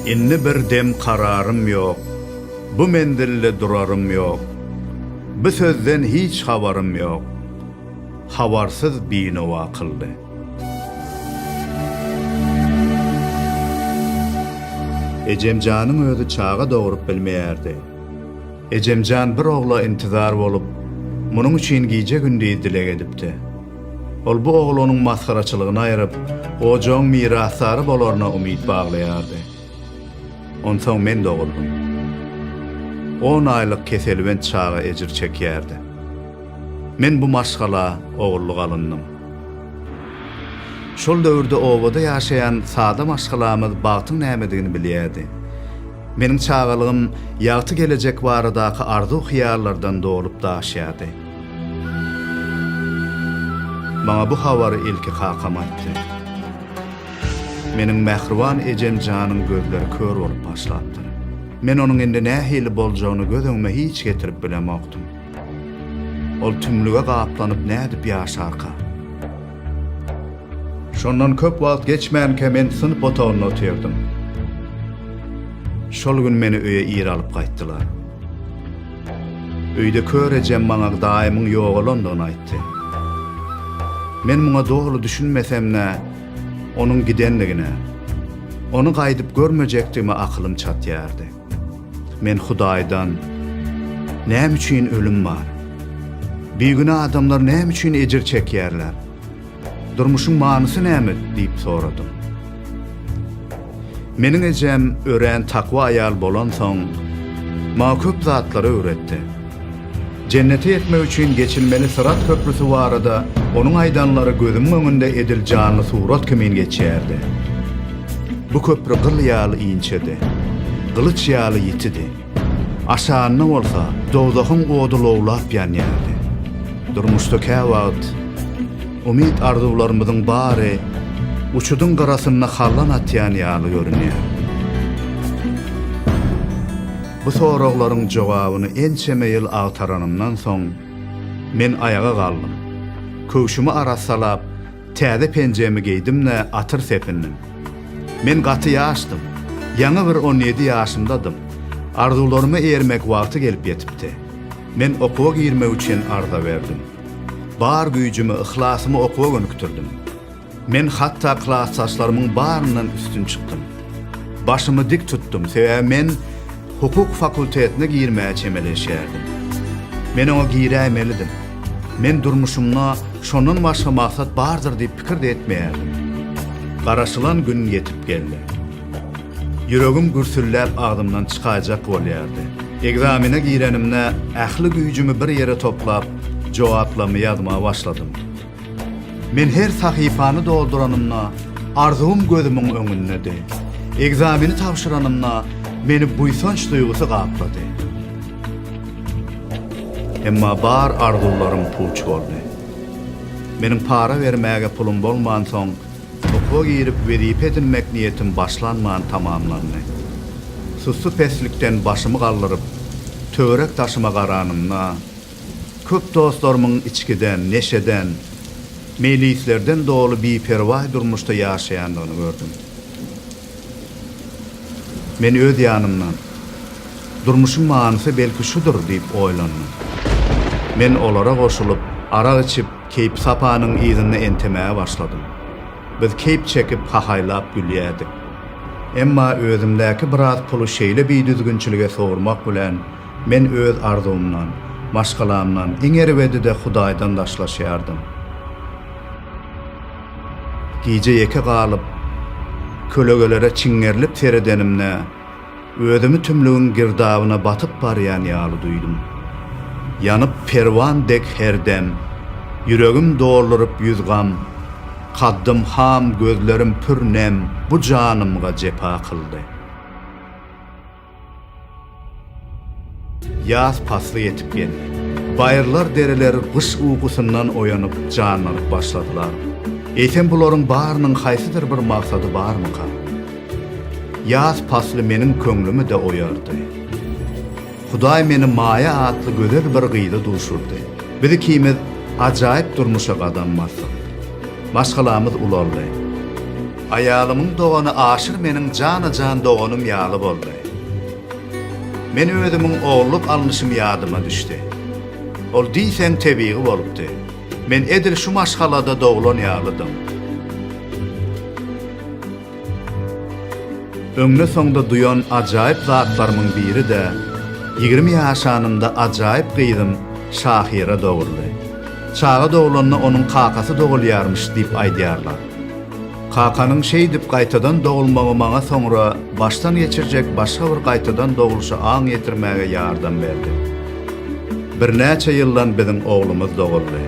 Indi bir dem kararym ýok, Bu menzilde durarym ýok, Bu sözden hiç habarym ýok, Habarsyz binowa kyldy. Ejemjanyň özi çaga dogrup bilmeýärdi. Ejemjan bir ogla intizar bolup, munuň üçin gije-gündiz dileg edipdi. Ol bu oglanyň masgaraçylygyny aýryp, ojagyň mirasdary bolaryna umyt baglaýardy. Onsoň men doguldym. On aýlyk keselbent çaga ejir çekýärdi. Men bu maşgala ogullyk alyndyň. Şol döwürde obada ýaşaýan sada maşgalamyz bagtyň nämedigini bilýärdi. Meniň çagalygym ýagty gelejek baradaky arzuw-hyýallardan dolup-daşýardy. Maňa bu habary ilki kakam aýtdy. Meniň mähriban ejem janyň gözleri kör bolup başlapdyr. Men onuň indi nähili boljagyny göz öňüme hiç getirip bilemokdym. Ol tümlüge gaplanyp nädip ýaşarka? Şondan köp wagt geçmänkä men synp otagynda otyrdym. Şol gün meni öýe ir alyp gaýtdylar. Öýde kör ejem maňa daýymyň ýogalandygyny aýtdy. Men muňa doly düşünmesem-de, onuň gidendigine, ony gaýdyp görmejekdigime akylym çatýardy. Men Hudaýdan, Näme üçin ölüm bar? Bigünä adamlar näme üçin ejir çekýärler? Durmuşyň manysy näme? diýip soradym. Meniň ejem örän takwa aýal bolansoň, maňa köp zatlary öwretdi. Jennete ýetmek üçin geçilmeli syrat köprüsi barada onuň aýdanlary gözümiň öňünde edil janly surat kimin geçýärdi. Bu köpri gyl ýaly inçedi. Gylyç ýaly ýitidi. Aşagynda bolsa dowzahyň ody lowlap ýanýardy. Durmuşda käwagt umyt-arzuwlarymyzyň bary uçudyň gyrasynda hallan atýan ýaly görünýär. Bu soraglaryň jogabyny ençeme ýyl agtaranymdan soň, men aýaga galdym. Köwşümi arassalap, Täze penjemi geýdim-de atyr sepindim. Men gaty ýaşdym. Ýaňy bir on ýedi ýaşymdadym. Arzuwlaryma eýermek wagty gelip ýetipdi. Men okuwa girmek üçin arza berdim. Bar güýjümi, yhlasymy okuwa gönükdirdim. Men hatda klasdaşlarymyň baryndan üstün çykdym. Başymy dik tutdum, sebäbi men. Hukuk fakultetine girmäge çemeleşýärdim. Men oňa giräýmelidim. Men durmuşymda şondan başga maksat bardyr diýip pikir-de etmeýärdim. Garaşylan gün ýetip geldi. Ýüregim gürsülläp agzymdan çykaýjak bolýardy. Ekzamene girenimde ähli güýjümi bir ýere toplap, jogaplamy ýazmaga başladym. Men her sahypany dolduranymda, arzuwym gözümiň öňündedi. Ekzameni tabşyranymda, meni buýsanç duýgusy gaplady. Emma bar arzuwlarym puç boldy. Meniň para bermäge pulum bolmansoň, okuwa girip wezipe edinmek niýetim başlanman tamamlandy. Sussy peslikden başymy galdyryp, töwerek-daşyma garanymda, Köp dostlarymyň içgiden, neşeden, meýlislerden doly biperwaý durmuşda ýaşaýandygyny gördüm. Men öz ýanymdan, Durmuşyň manysy belki şudur diýip oýlandym. Men olara goşulyp, arak içip, keýpi-sapanyň yzynda entemäge başladym. Biz keýp çekip, hahaýlap gülýärdik. Emma özümdäki biraz puly şeýle bidüzgünçilige sowurmak bilen, Men öz arzuwymdan, maşgalamdan, iň erbedi-de Hudaýdan daşlaşýardym. Gije ýeke galyp, kölegelere çiňňerilip seredenimde, özümi tümlügiň girdabyna batyp barýan ýaly duýdum. Ýanyp perwan dek her dem, ýüregim dolduryp ýüz gam, kaddym ham, gözlerim pür nem bu janymga jepa kyldy. Ýaz pasly ýetip geldi. Baýyrlar-dereler gyş ukusyndan oýanyp, janlanyp başladylar. Eýsem bularyň barynyň haýsydyr bir maksady barmyka? Ýaz pasly meniň köňlümi-de oýardy. Hudaý meni Maýa atly gözel bir gyza duşurdy. Biz ikimiz ajaýyp durmuşa gadam basdyk. Maşgalamyz ulaldy. Aýalymyň dogany Aşyr meniň jana-jan doganym ýaly boldy. Men özümiň ogulluk alnyşym ýadyma düşdi. Ol diýseň tebigy bolupdy. Men edil şu maşgalada doglan ýalydym. Öňde-soňda duýan ajaýyp zatlarymyň biri-de, ýigrimi ýaşanynda ajaýyp gyzym Şahyra doguldy. Çaga doglanda onuň kakasy dogulýarmyş diýip aýdýarlar. Kakanyň şeýdip gaýtadan dogulmagy maňa soňra başdan geçirjek başga bir gaýtadan dogluşa aň ýetirmäge ýardam berdi. Birnäçe ýyldan biziň oglumyz doguldy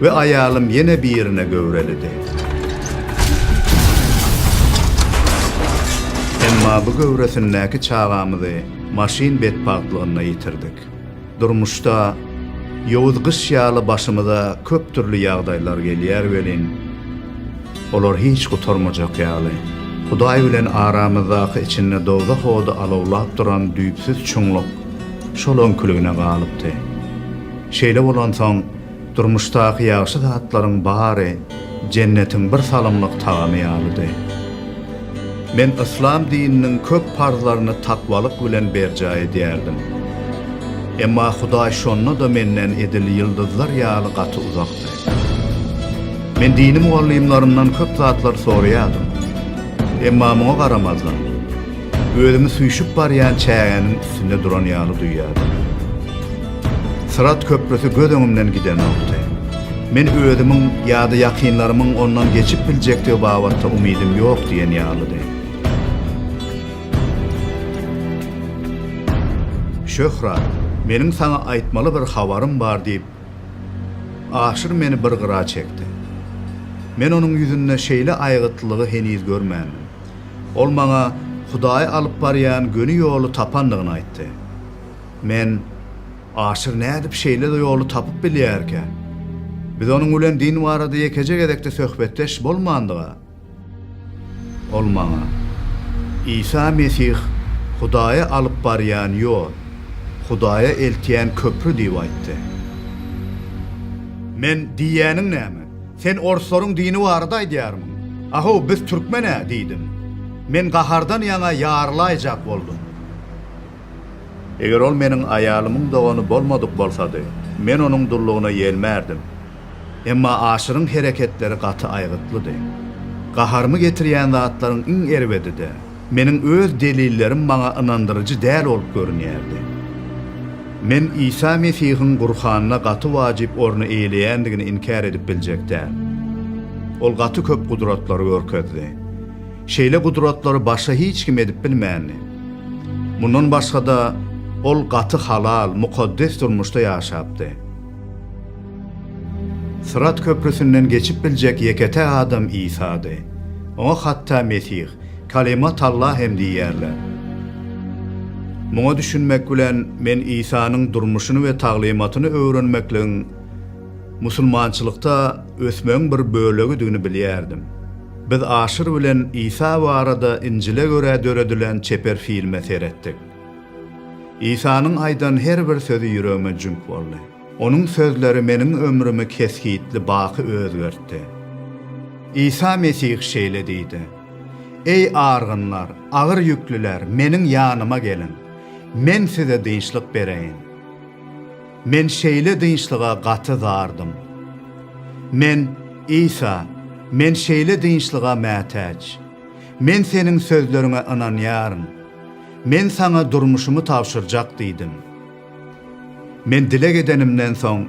we aýalym ýene birine göwrelidi. Emma bu göwresindäki çagamyzy maşyn betbagtlygynda ýitirdik. Durmuşda ýowuz gyş ýaly başymyza köp dürli ýagdaýlar gelýär welin, olar hiç gutarmajak ýaly. Hudaý bilen aramyzdaky içinde dowzah ody alawlap duran düýpsüz çuňluk şol öňküligine galypdy. Şeýle bolansoň, Durmuşdaky ýagşy zatlaryň bary jennetiň bir salymlyk tagamy ýalydy. Men yslam dininiň köp parzlaryny takwalyk bilen berjaý edýärdim. Emma Hudaý şonda-da menden edil ýyldyzlar ýaly gaty uzakdy. Men dini mugallymlarymdan köp zatlar soraýardym. Emma muňa garamazdan, Özümi süýşüp barýan çägäniň üstünde duran ýaly duýýardym. Syrat köprüsi göz öňümden gidenokdy. Men özümiň ýa-da ýakynlarymyň ondan geçip biljekdigi babatda umydym ýok diýen ýalydy. Şöhrat, meniň saňa aýtmaly bir habarym bar diýip, Aşyr meni bir gyra çekdi. Men onuň ýüzünde şeýle aýgytlylygy heniz görmändim. Ol maňa Hudaýy alyp barýan göni ýoly tapandygyny aýtdy. Men, Aşyr nädip şeýle ýoly tapyp bilýärkä? Biz onuň bilen din barada ýekeje gezek-de söhbetdeş bolmandyga? Ol maňa, Isa Mesih Hudaýa alyp barýan ýol, Hudaýa eltýän köpri diýip aýtdy. Men, Diýýäniň näme? Sen orslaryň dini barada aýdýarmyň? A-how, biz türkmen-ä, diýdim. Men gahardan ýaňa ýarylaýjak boldum. Eger ol meniň aýalymyň dogany bolmadyk bolsady, men onuň dullugyna ýelmärdim. Emma Aşyryň hereketleri gaty aýgytlydy. Gaharymy getirýän zatlaryň iň erbedi-de, Meniň öz delillerim maňa ynandyryjy däl bolup görünýärdi. Men Isa Mesihiň Gurhanda gaty wajyp orny eýeleýändigini inkär edip biljek däl. Ol gaty köp gudratlary görkezdi. Şeýle gudratlary başga hiç kim edip bilmändi. Mundan başga-da, ol gaty halal, mukaddes durmuşda ýaşapdy. Syrat köprüsinden geçip biljek ýeke-täk adam Isady. Oňa hatda Mesih, Kalima Talla hem diýýärler. Muňa düşünmek bilen men Isanyň durmuşyny we taglymatyny öwrenmekligiň musulmançylykda ösmegiň bir bölegidigini bilýärdim. Biz Aşyr bilen Isa barada Injile görä döredilen çeper filme seretdik. Isanyň aýdan her bir sözi ýüregime jüňk boldy. Onuň sözleri meniň ömrümi kesgitli baky özgertdi. Isa Mesih şeýle diýdi, Eý, argynlar, agyr ýüklüler, Meniň ýanyma geliň, Men size dynçlyk bereýin. Men şeýle dynçlyga gaty zardym. Men, Isa, Men şeýle dynçlyga mätäç. Men Seniň sözleriňe ynanýaryn. Men Saňa durmuşymy tabşyrjak diýdim. Men dileg edenimden soň,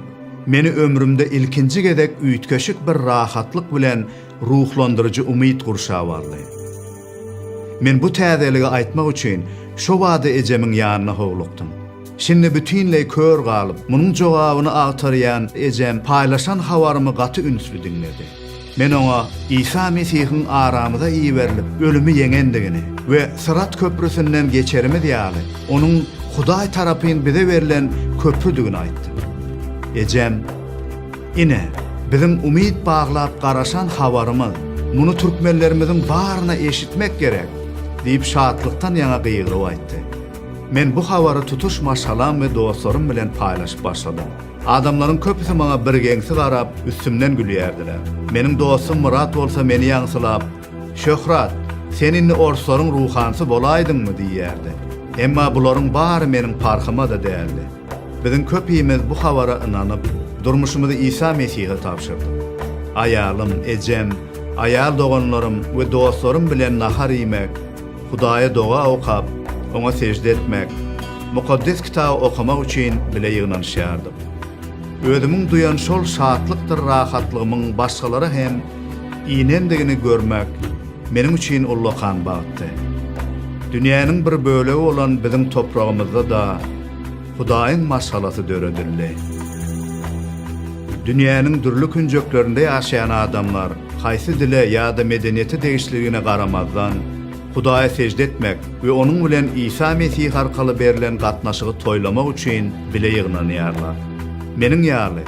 meni ömrümde ilkinji gezek üýtgeşik bir rahatlyk bilen ruhlandyryjy umyt gurşap aldy. Men bu täzeligi aýtmak üçin şo bada ejemiň ýanyna howlukdym. Şindi bütinleý kör galyp, munuň jogabyny agtarýan ejem paýlaşan habarymy gaty ünsli diňledi. Men oňa Isa Mesihiň aramyza iberilip, ölümi ýeňendigini we Syrat köprüsinden geçerimiz ýaly, onuň Hudaý tarapyn bize berlen köprüdigini aýtdym. Ejem, Ine, biziň umyt baglap garaşan habarymyz, muny türkmenlerimiziň baryna eşitmek gerek! diýip, şatlykdan ýaňa gygyryp aýtdy. Men bu habary tutuş maşgalam we dostlarym bilen paýlaşyp başladym. Adamlaryň köpüsi maňa birgeňsi garap, üstümden gülýärdiler. Meniň dostum Myrat bolsa meni ýaňsylap, Şöhrat, sen indi orslaryň ruhansy bolaýdyňmy? diýýärdi. Emma bularyň bary meniň parhyma-da däldi. Biziň köpimiz bu habara ynanyp, durmuşymyzy Isa Mesihe tabşyrdyk. Aýalym, ejem, aýal doganlarym we dostlarym bilen nahar iýmek, Hudaýa doga okap, oňa sežde etmek, Mukaddes Kitaby okamak üçin bile ýygnanyşýardyk. Özümiň duýan şol şatlykdyr rahatlygymyň başgalara hem inendigini görmek meniň üçin ullakan bagtdy. Dünýäniň bir bölegi bolan biziň topragymyzda-da, Hudaýyň maşgalasy döredildi. Dünýäniň dürli künjeklerinde ýaşaýan adamlar, haýsy dile ýa-da medeniýete degişliligine garamazdan, Hudaýa sežde etmek we onuň bilen Isa Mesih arkaly berlen gatnaşygy toýlamak üçin bile ýygnanýarlar. Meniň ýaly,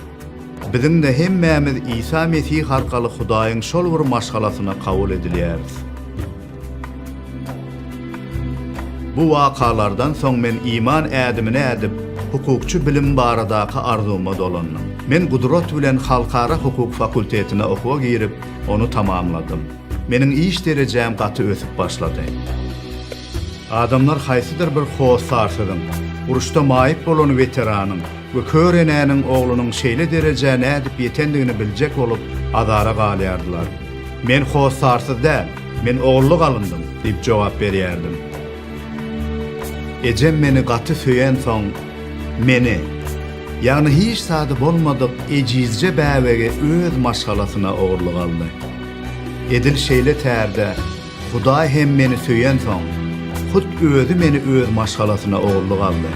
biziň-de hemmämiz Isa Mesih arkaly Hudaýyň şol bir maşgalasyna kabul edilýäris. Bu wakalardan soň men iman ädimini ädip, hukukçy bilim baradaky arzuwyma dolandym. Men gudrat bilen halkara hukuk fakultetine okuwa girip, ony tamamladym. Meniň iş derejäm gaty ösüp başlady. Adamlar haýsydyr bir hossarsyzyň, uruşda maýyp bolan weteranyň we kör enäniň oglunyň şeýle derejä nädip ýetendigini biljek bolup, azara galýardylar. Men hossarsyz däl. Men ogurlyk alyndyň, diýip jogap berýärdim. Ejem meni gaty söýensoň, meni, ýagny hiç zady bolmadyk ejizje bäbegi öz maşgalasyna ogurlyk aldy. Edil şeýle tärde Hudaý hem meni söýensoň, hut Özi meni öz maşgalasyna ogurlyk aldy.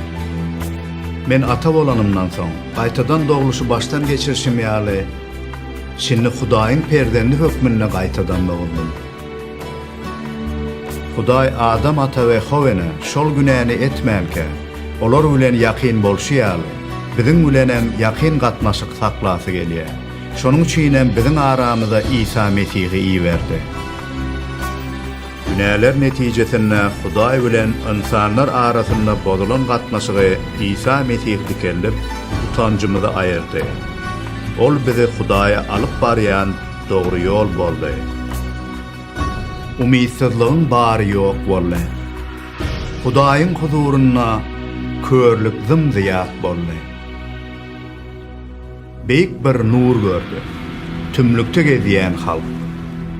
Men ata bolanymdan soň, gaýtadan dogluşy başdan geçirişim ýaly, Şindi Hudaýyň perzendi hökmünde gaýtadan dogdum. Hudaý Adam ata we Howene şol günäni etmänkä, olar bilen ýakyn bolşy ýaly, biziň bilenem ýakyn gatnaşyk saklasy gelýär. Şonuň üçinem biziň aramyza Isa Mesihi iberdi. Günäler netijesinde Hudaý bilen ynsanlar arasynda bozulan gatnaşygy Isa Mesih dikeldip, utanjymyzy aýyrdy. Ol bizi Hudaýa alyp barýan dogry ýol boldy. Umytsyzlygyň bary ýok boldy. Hudaýyň huzurynda körlük zym-zyýat boldy. Beýik bir nur gördi. Tümlükde gezýän halk,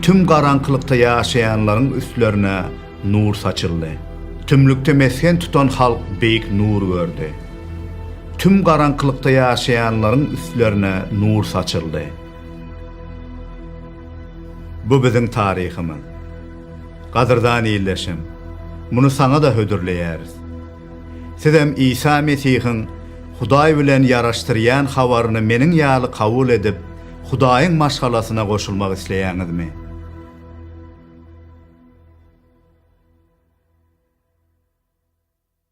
tüm garaňkylykda ýaşaýanlaryň üstlerine nur saçyldy. Tümlükde mesgen tutan halk beýik nur gördi. Tüm garaňkylykda ýaşaýanlaryň üstlerine nur saçyldy. Bu biziň taryhymyz. Gadyrdan ildeşim, muny saňa-da hödürleýäris. Sizem Isa Mesihiň Hudaý bilen ýaraşdyrýan habaryny meniň ýaly kabul edip, Hudaýyň maşgalasyna goşulmak isleýäňizmi?